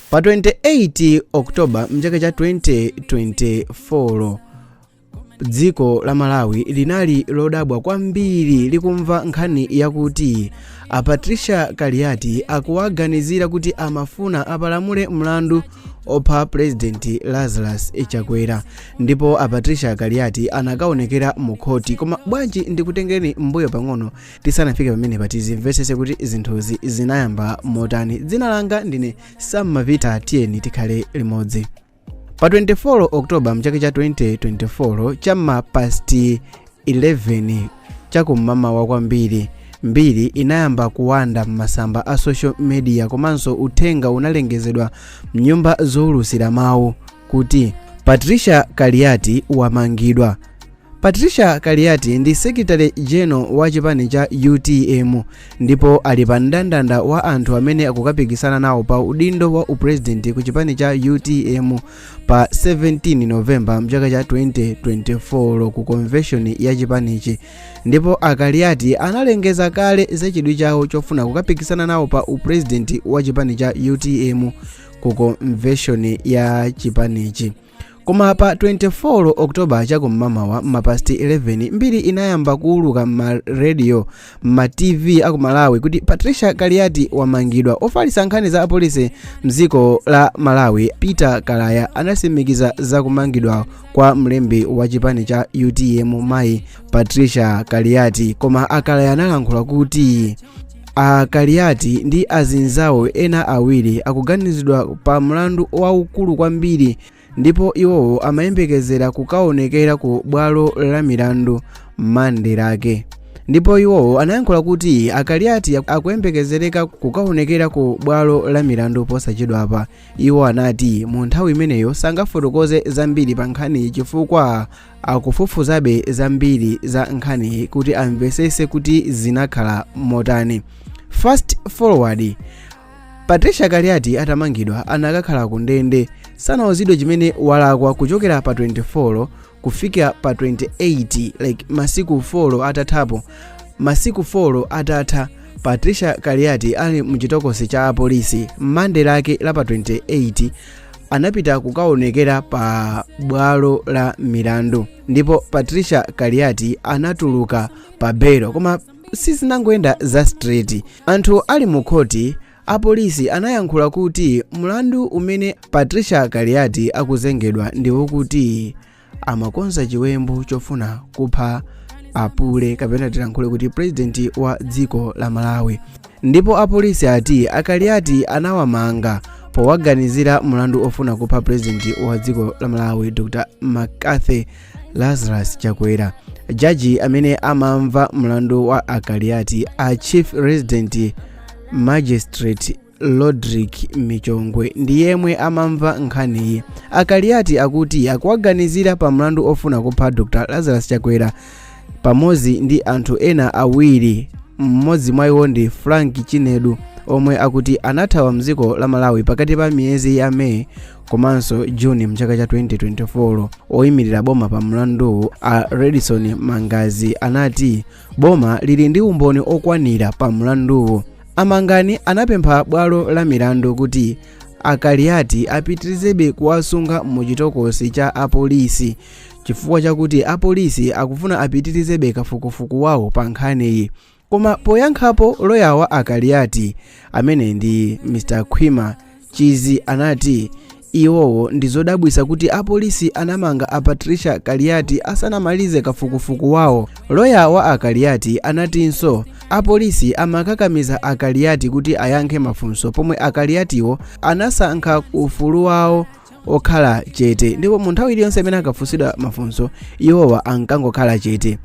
pa 28 oktoba mchaka cha 2024 dziko la malawi linali lodabwa kwambiri likumva nkhani yakuti a patricia kaliati akuwaganizira kuti amafuna apalamule mlandu opha purezidenti lazarus chakwera ndipo a patricia kaliati anakaonekera mu khoti koma bwanji ndikutengereni mbuyo pang'ono tisanafike pamenepa tizimvetsetse kuti zinthuzi zinayamba motani dzina langa ndine sam mapita tiyeni tikhale limodzi pa 24 oktoba mchaka cha 2024 cha m'ma pasti 11 chakum'mamawa kwambiri mbiri inayamba kuwanda m'masamba a social media komanso uthenga unalengezedwa mnyumba zowulutsira mawu kuti patricia kaliati wamangidwa Patricia Kaliati ndi Secretary General wa chipani cha utm ndipo ali pa mndandanda wa anthu amene akukapikisana nawo pa udindo wa upresident ku chipani cha utm pa 17 November mchaka cha 2024 ku convention ya chipanichi ndipo a Kaliati analengeza kale za chidwi chawo chofuna kukapikisana nawo pa upresident wa chipani cha utm ku convention ya chipanichi koma pa 24 oktoba chakum'mamawa m'mapasti 11 mbiri inayamba kuuluka m'marediyo m'matv a ku malawi kuti patricia kaliati wamangidwa ofalitsa nkhani za apolisi mdziko la malawi peter kalaya anatsimikiza za kumangidwa kwa mlembi wa chipani cha utm mayi patricia kaliati koma a kalaya analankhula kuti a kaliati ndi azinzawo ena awiri akuganizidwa pa mlandu waukulu kwambiri ndipo iwowo amayembekezera kukaonekera ku bwalo la milandu mande lake ndipo iwowo anayankhula kuti a kaliati akuyembekezereka kukaonekera ku bwalo la milandu posachedwapa iwo anati mu nthawi imeneyo sangafotokoze zambiri pa nkhaniyi chifukwa akufufuzabe zambiri za nkhaniyi kuti amvetsetse kuti zinakhala motani fast forward patricia kaliati atamangidwa anakakhala ku ndende sanauzidwe chimene walakwa kuchokera pa 24 kufika pa 28 like masiku 4 atathapo masiku 4 atatha patricia kaliati ali mchitokosi cha apolisi m'mande lake la pa 28 anapita kukaonekera pa bwalo la milandu ndipo patricia kaliati anatuluka pa belo koma sizinangoyenda za straight anthu ali mu khoti apolisi anayankhula kuti mlandu umene patricia kaliati akuzengedwa ndi wokuti amakonza chiwembu chofuna kupha apule kapena tilankhule kuti purezidenti wa dziko la malawi ndipo apolisi ati akaliati anawamanga powaganizira mlandu ofuna kupha purezidenti wa dziko la malawi dr mccarthy lazarus chakwera jaji amene amamva mlandu wa akaliati a chief resident magistrate rodrick michongwe ndi yemwe amamva nkhaniyi a kaliati akuti akuwaganizira pa mlandu ofuna kupha dr lazarus chakwera pamodzi ndi anthu ena awiri mmodzi mwa iwo ndi frank chinedu omwe akuti anathawa mdziko la malawi pakati pa miyezi ya meyi komanso juni mchaka cha 2024 oyimirira boma pa mlanduwu a levison mangani anati boma lili ndi umboni okwanira pa mlanduwu a mangani anapempha bwalo la milandu kuti a kaliati apitirizebe kuwasunga mu chitokosi cha apolisi chifukwa chakuti apolisi akufuna apitirizebe kafukufuku wawo pa nkhaniyi koma poyankhapo loya wa a kaliati amene ndi mr khwima Mchizi anati iwowo ndi zodabwitsa kuti apolisi anamanga a Patricia Kaliati asanamalize kafukufuku wawo. Loya wa a Kaliati anatinso apolisi amakakamiza a Kaliati kuti ayankhe mafunso pomwe a Kaliatiwo anasankha ufulu wawo okhala chete ndipo mu nthawi iliyonse imene akafunsidwa mafunso iwowa ankangokhala chete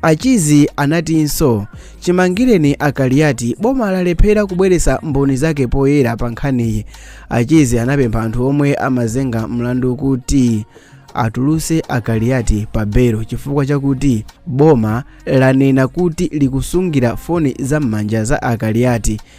a mchizi anatinso chimangireni a kaliati boma lalephera kubweretsa mboni zake poyera pa nkhaniyi a mchizi anapempha anthu omwe amazenga mlandu kuti atuluse a kaliati pa belo chifukwa chakuti boma lanena kuti likusungira foni za m'manja za a kaliati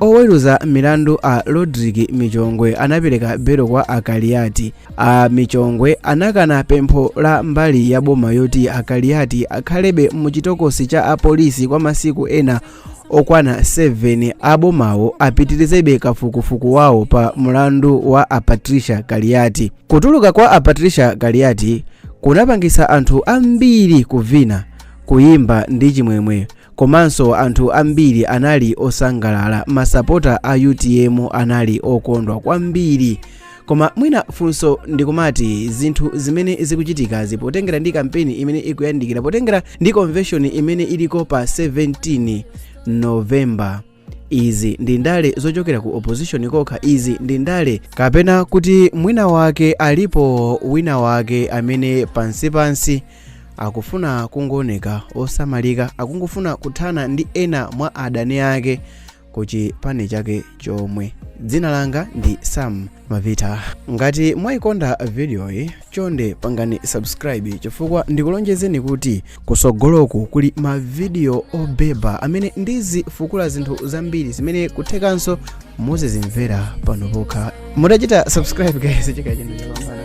Oweruza milandu a Rodrick Michongwe anapereka belo kwa a Kaliati. A Michongwe anakana pempho la mbali ya boma yoti a Kaliati akhalebe mu chitokosi cha apolisi kwa masiku ena okwana 7 abomawo apitirizebe kafukufuku wawo pa mlandu wa a Patricia Kaliati. Kutuluka kwa a Patricia Kaliati kunapangitsa anthu ambiri kuvina, kuyimba ndi chimwemwe Komanso anthu ambiri anali osangalala, masapota a UTM anali okondwa kwambiri. Koma mwina funso ndikumati zinthu zimene zikuchitikazi potengera ndi kampeni imene ikuyandikira, potengera ndi convention imene iliko pa 17 November, izi ndi ndale zochokera ku opposition kokha izi ndi ndale kapena kuti mwina wake alipo wina wake amene pansipansi akufuna kungooneka osamalika akungofuna kuthana ndi ena mwa adani ake ku chipani chake chomwe dzina langa ndi sam mavita ngati mwayikonda vidiyoyi chonde pangani subscribe chifukwa ndikulonjezeni kuti kusogoloku kuli mavidiyo obeba amene ndizifukula zinthu zambiri zimene kuthekanso muzizimvera pano pokha mutachita subscribe guys chaka chino chapambana